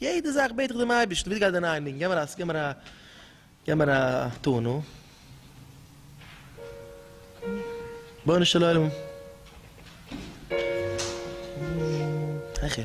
יעדע זאך בעט איך דעם אייבערשטן, ביטע גיי דערין אריין ניגון, גיב מיר א גיב מיר א טאן, נו. רבונו של עולם. העכער.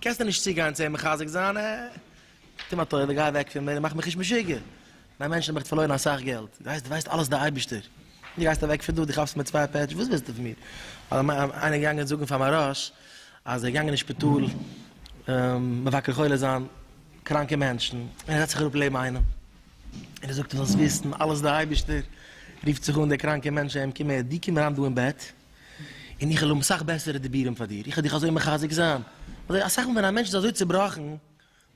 קענסט דען נישט צוגיין צו אים מחזק זיין, אה, טו מיר א טובה גיי אוועק פון מיר און מאך מיך נישט משוגע, דיין מענטשן האבן עכט פארלוירן אסאך געלט, דו ווייסט דו ווייסט אלעס דער אייבערשטער, און דו גייסט אוועק פון דא, דו כאפסט מיט צוויי פעטש, וואס ווילסטו פון מיר, איינער געגאנגען זאגן פאר מהרש אז ער איז געגאנגען אין שפיטאל מבקר חולה זיין קראנקע מענטשן, און ער זעצט זיך אראפ לעבן איינעם, און ער זאגט דו זאלסט וויסן אלעס דער אייבערשטער רופט זיך אן דער קראנקער מענטש אים קום הער, דו קום אריין דא אין בעט. און איך וועל האבן סאך בעסערע דיבורים פאר דיר, איך וועל דיך אזוי מחזק זיין, אזוי אסאך מאל ווען א מענטש איז אזוי צעבראכן,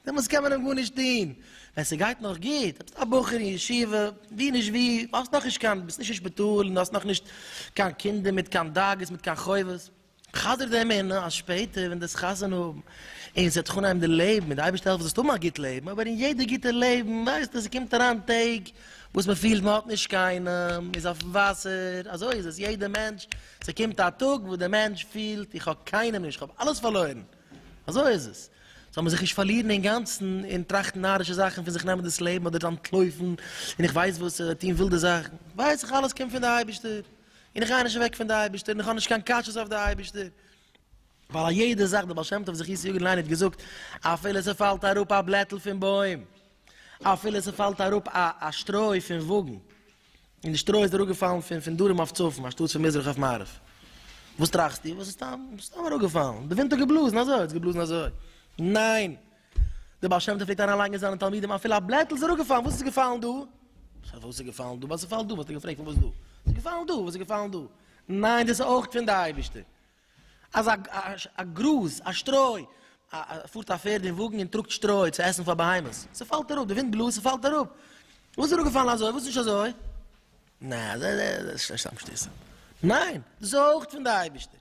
דעמאלס קען מען אים גארנישט טון, ווען ס'גייט נאך גוט, ביסט א בחור אין ישיבה, ווי נישט ווי, האסט נאכנישט קיין, ביסט נישט אין שפיטאל, און האסט נאכנישט קיין קינדער מיט קיין דאגות, מיט קיין חובות, חזר די אמונה אז שפעטער ווען דו וועסט חתונה האבן, און ס'וועט זיך אנהייבן די לעבן, און די אייבערשטער העלפט זאלסט האבן א גוט לעבן, אבער אין יעדע גוטע לעבן ווייסטו אז ס'קומט אריין טעג, וואס מען פילט מען האט נישט קיינעם, מען איז אויפן וואסער, אזוי איז עס יעדע מענטש, ס'קומט א טאג וואס די מענטש פילט איך האב קיינעם נישט, איך האב אלעס פארלוירן, אזוי איז עס, זאל מען זיך נישט פארלירן אינגאנצן און טראכטן נארישע זאכן פון זיך נעמען דאס לעבן אדער אנטלויפן און איך ווייס וואס אדער טון ווילדע זאכן, ווייס איך אלעס קומט פון די אייבערשטער און איך גיי נישט אוועק פון די אייבערשטער און איך האב נישט קיין קשיות אויף די אייבערשטער, ווייל א יעדע זאך, דער בעל שם טוב זכות יגן לעני האט געזאגט, אפילו ס'פאלט אראפ א בלעטל פון בוים, אפילו ס'פאלט אראפ א א שטרוי פון וואגן, און די שטרוי איז אראפגעפאלן פון פון דרום אויף צפון אנשטאטס פון מזרח אויף מערב, וואס טראכסטו? וואס איז סתם סתם אראפגעפאלן? די ווינט האט געבלאזן אזוי האט עס געבלאזן אזוי. ניין! דער בעל שם טוב פלעגט אריינלייגן אין זיינע תלמידים אפילו א בלעטל איז אראפגעפאלן, וואס איז געפאלן דא? פון וואס איז געפאלן דא? ביי ס'פאלט דא וואלט ער געפרעגט פון וואס דא? ס'איז געפאלן דא, וואס איז געפאלן דא? ניין דאס איז אויך פון די אייבערשטער. אַז אַ גראָז, אַ שטרױ, פֿאָרט אַ פֿערד אין װאָגן און טראָגט שטרױ צו עסן פֿאַר בהמות. ס'פֿאַלט אַראָפּ, דער װינט בלאָזט, ס'פֿאַלט אַראָפּ. װאָס איז אַראָפּגעפֿאַלן אַזױ? װאָס איז נישט אַזױ? נײן, דאָס איז נישט סתם שטות. נײן, דאָס איז אױך פֿון דער אײבערשטער.